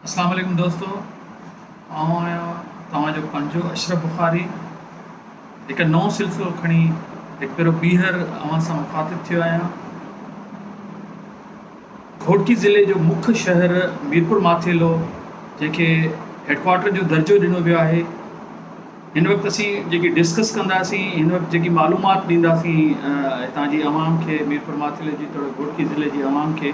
اسلام عليڪم دوستو آئون آهيان توهان جو پنهنجو اشرف بخاري هڪ نئون سلسلو کڻي هڪ ڀيرو ٻيهر اوهان سان مخاطب ٿيو آهيان گهوٽڪي ضلعي جو مک شهر ميرپور ماٿيلو جنهن کي هيڊڪوارٽر جو درجو ڏنو ويو آهي هن وقت اسين جيڪي ڊسڪس ڪنداسين هن وقت جيڪي معلومات ڏينداسين هتان جي عوام کي ميرپور ماٿلي جي توڙي گهوٽڪي ضلعي جي عوام کي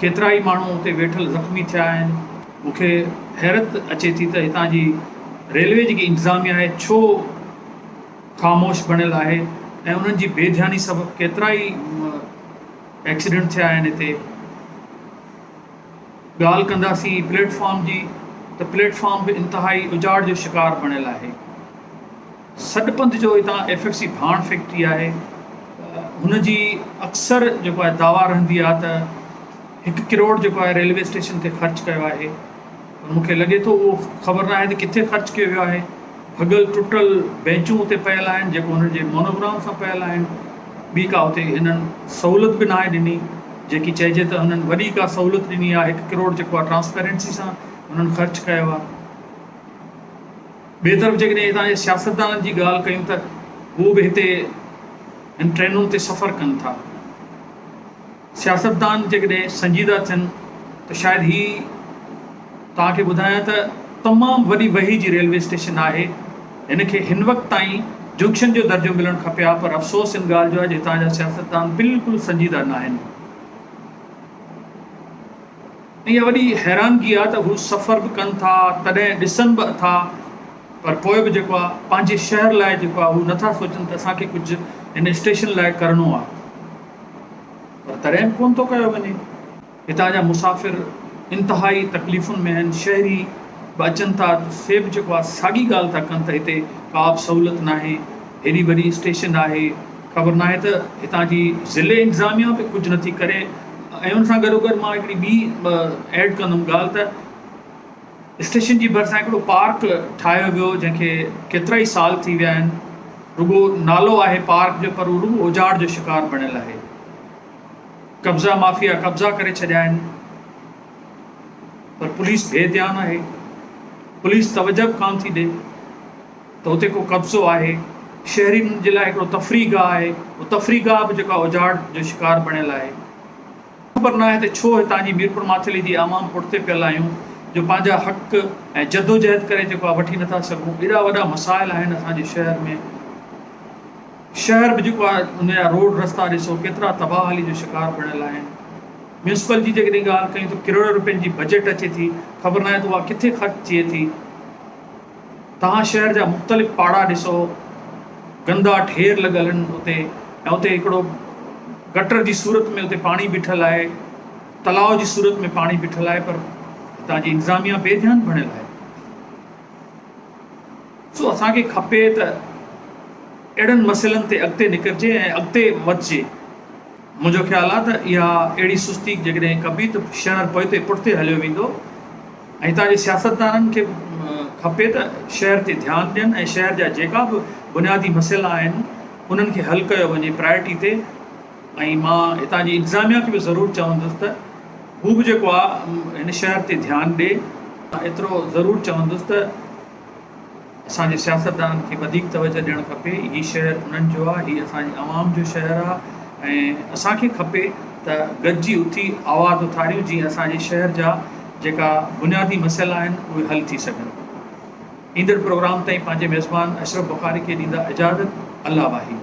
ڪيترا ئي ماڻهو اتي ويٺل زخمي ٿيا آهن، مون کي حيرت اچي ٿي ته هتان جي ريلوي جيڪي انتظاميا آهي ڇو خاموش بڻيل آهي ۽ انهن جي بي ڌياني سبب ڪيترا ئي ايڪسيڊنٽ ٿيا آهن هتي ڳالهه ڪنداسين پليٽ فارم جي ته پليٽ فارم به انتهائي اجاڙ جو شڪار بڻيل آهي. سڏپنٿ جو اتان ايف ايف سي ڀاڻ فيڪٽري آهي هن جي اڪثر جيڪو آهي دعويٰ رهندي آهي ته هڪ ڪروڙ جيڪو آهي ريلوي اسٽيشن تي خرچ ڪيو آهي پر مون کي لڳي ٿو اهو خبر ناهي ته ڪٿي خرچ ڪيو ويو آهي ڀڳل ٽٽل بينچون اتي پيل آهن جيڪو هن جي مونوگرام سان پيل آهن ٻي ڪا اتي هنن سهولت به ناهي ڏني جيڪي چئجي ته هنن وڏي ڪا سهولت ڏني آهي هڪ ڪروڙ جيڪو آهي ٽرانسپيرنسي سان هنن خرچ ڪيو آهي ٻئي طرف جيڪڏهن هتان جي سياستدانن جي ڳالهه ڪيون ته هو به هتي هن ٽرينن تي سفر ڪن ٿا. سياستدان جيڪڏهن سنجيده ٿين ته شايد هي توهان کي ٻڌايان ته تمام وڏي وهي جي ريلوي اسٽيشن آهي. هن کي هن وقت تائين جنڪشن جو درجو ملڻ کپي ها پر افسوس ان ڳالهه جو آهي جو هتان جا سياستدان بلڪل سنجيده ناهن. ۽ اها وڏي حيرانگي آ ته هو سفر به ڪن ٿا تڏهن ڏسن به اٿا پر پوء به جيڪو آ پنهنجي شهر لاء جيڪو آ هو نٿا سوچن ته اسان کي ڪجهه هن اسٽيشن لاء ڪرڻو آ پر تڏهن به ڪونه ٿو ڪيو وڃي هتان جا مسافر انتهائي تڪليفن ۾ آهن شهري به اچن ٿا ته سي به جيڪو آ ساڳي ڳالهه ٿا ڪن ته هتي ڪا به سهولت ناهي هيڏي وڏي اسٽيشن آهي خبر ناهي ته هتان جي ضلعي انتظاميا به ڪجهه نٿي ڪري ۽ ان سان گڏوگڏ مان هڪڙي ٻي ايڊ ڪندم ڳالهه ته اسٽيشن جي ڀرسان هڪڙو پارڪ ٺاهيو ويو جنهن کي ڪيترا ئي سال ٿي ويا آهن رڳو نالو آهي پارڪ جو پر رڳو اجاڙ جو شڪار بڻيل آهي قبضا مافيا قبضا ڪري ڇڏيا آهن پر پوليس بي ڌيان آهي پوليس توجه به ڪان ٿي ڏي ته اتي ڪو قبضو آهي، شهرين جي لاء هڪڙو تفريح گاهه آهي، اهو تفريح گاهه به جيڪو آهي اجاڙ جو شڪار بڻيل آهي. خبر ناهي ته ڇو هتان جي ميرپور ماٿيلي جي عوام پٺتي پيل آهيون جو پنهنجا حق ۽ جدوجهد ڪري جيڪو آهي وٺي نٿا سگهون، ايڏا وڏا مسائل آهن اسان جي شهر ۾، شهر به جيڪو آهي ان جا روڊ رستا ڏسو ڪيترا تباهلي جو شڪار بڻيل آهن، ميونسپل جي جيڪڏهن ڳالهه ڪيون ته ڪروڙين روپين جي بجيٽ اچي ٿي، خبر ناهي ته اها ڪٿي خرچ ٿئي ٿي. توهان شهر جا مختلف پاڙا ڏسو، گندا ڍير لڳل آهن اتي ۽ اتي هڪڙو گٽر جي صورت ۾ اتي پاڻي بيٺل آهي، تلاء جي صورت ۾ پاڻي بيٺل آهي پر هتان جي انتظاميا بي ڌيان بڻيل آهي. سو اسان کي کپي ته اهڙن مسئلن تي اڳتي نڪرجي ۽ اڳتي وڌجي. منهنجو خيال آهي ته اها اهڙي سستي جيڪڏهن ڪبي ته شهر پوئتي پٺتي هليو ويندو ۽ هتان جي سياستدانن کي به کپي ته شهر تي ڌيان ڏين ۽ شهر جا جيڪا به بنيادي مسئلا آهن انهن کي حل ڪيو وڃي پرائرٽي تي ۽ مان هتان جي انتظاميا کي به ضرور چوندس ته هو به جيڪو آهي هن شهر تي ڌيان ڏي مان ايترو ضرور چوندس ته اسان جي سياستدانن کي وڌيڪ توجهه ڏيڻ کپي، هي شهر انهن جو آ، هي اسان جي عوام جو شهر آ ۽ اسان کي کپي ته گڏجي اٿي آواز اٿاريون جيئن اسان جي شهر جا جيڪا بنيادي مسئلا آهن اهي حل ٿي سگهن. ايندڙ پروگرام تائين پنهنجي ميزبان اشرف بخاري کي ڏيندا اجازت. الله واحد.